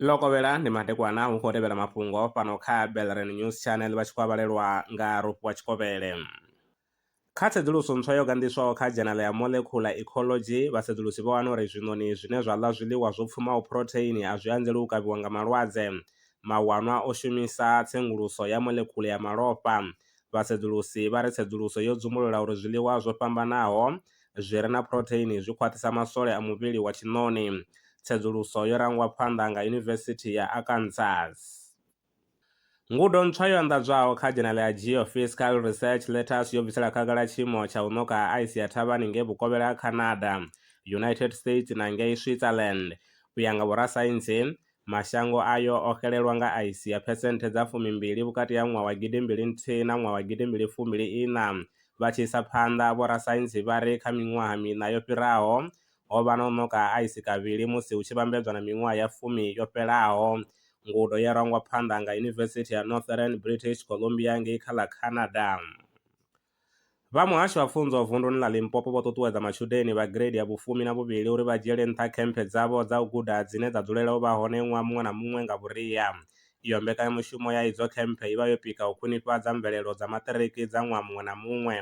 ḽo kovhela ndi madekwana hu khou tevhela mafhungo fhano kha belren news channel vha tshi khou avhalelwa nga rofhiwa tshikovhele kha tsedzuluso ntswa yo ganḓiswaho kha dzhenala ya molecular ecology vhasedzulusi vho wana uri zwiṋoni zwine zwa ḽa zwiḽiwa zwo pfumaho phurotheini a zwi anzeli u kavhiwa nga malwadze mawanwa o shumisa tsenguluso ya molecular ya malofha Vhasedzulusi vha ri tsedzuluso yo dzumbulula uri zwiḽiwa zwo fhambanaho zwi re na phurotheini zwi khwaṱhisa maswole a muvhili wa tshiṋoni. Tsedzuluso yo rangwa phanḓa nga Yunivesithi ya Arkansas. Ngudo ntswa yo anḓadzwaho kha dzhenala ya Geophysical Research Letters yo bvisela khagala tshiimo tsha u ṋoka ha aisi ya thavhani ngei vhukovhela ha Canada, United States na ngei Switzerland. U ya nga vhorasaintsi, Mashango ayo o xelelwa nga aisi ya phesenthe dza fumimbili vhukati ha ṅwaha wa gidi mbili nthihi na ṅwaha wa gidi mbili fumbili iṋa. Vha tshi isa phanḓa, vhorasaintsi vha ri kha miṅwaha miṋa yo fhiraho, ho vha na u ṋoka ha aisi kavhili musi hu tshi vhambedzwa na miṅwaha ya fumi yo fhelaho. Ngudo ye rangwa phanḓa nga Yunivesithi ya Northern British Columbia ngei kha ḽa Canada. Vha Muhasho wa Pfunzo vunduni ḽa Limpopo vho ṱuṱuwedza matshudeni vha gireidi ya vhufumi na vhuvhili uri vha dzhiele nṱha khemphe dzavho dza u guda dzine dza dzulela u vha hone ṅwaha muṅwe na muṅwe nga vhuria. Iyo mbekanyamushumo ya idzo khemphe i vha yo pika u khwinifhadza mvelelo dza maṱiriki dza ṅwaha muṅwe na muṅwe.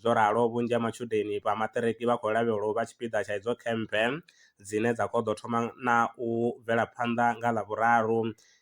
Zwo ralo, vhunzhi ha matshudeni vha maṱiriki vha khou lavhelwa u vha tshipiḓa tsha idzo khemphe dzine dza khou ḓo thoma na u bvela phanḓa nga Ḽavhuraru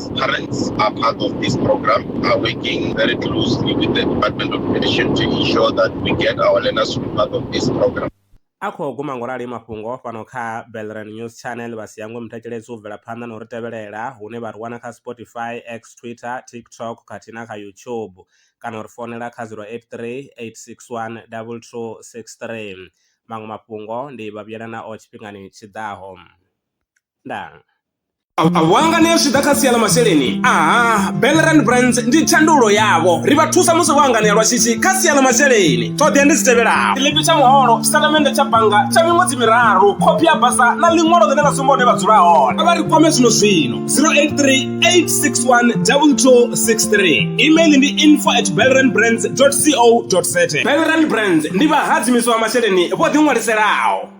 Parents. Parents are part of this program, are working very closely with the Department of Education to ensure that we get our learners to be part of this program. a khou guma ngo rali mafhungo fhano kha belran news channel vha si hangwe mutakeledzi u bvela phanḓa na u ri tevhelela hune vha ri wana kha spotify x twitter tiktok khathihi na kha youtube kana u ri founela kha 083 861 2263 maṅwe mafhungo ndi vha vhuyela nao tshifhingani tshi ḓaho ndaa wanga ni a zwi ḓa kha sia ḽa masheleni aha belran brands ndi tshandulo yavho ri vha thusa musi vho anganea lwa shishi kha sia ḽa masheleni ṱhoḓea ndi dzi tevhelaho tshiḽipi tsha muholo tshitatamennde tsha bannga tsha miṅwedzi miraru khophi ya basa na ḽiṅwalo ḽine ḽa sumba hune vha dzula hone a vha ri kwame zwino zwino 0838612263 email ndi info at belran brands co za belran brands ndi vhahadzimiswa masheleni vho ḓiṅwaliselaho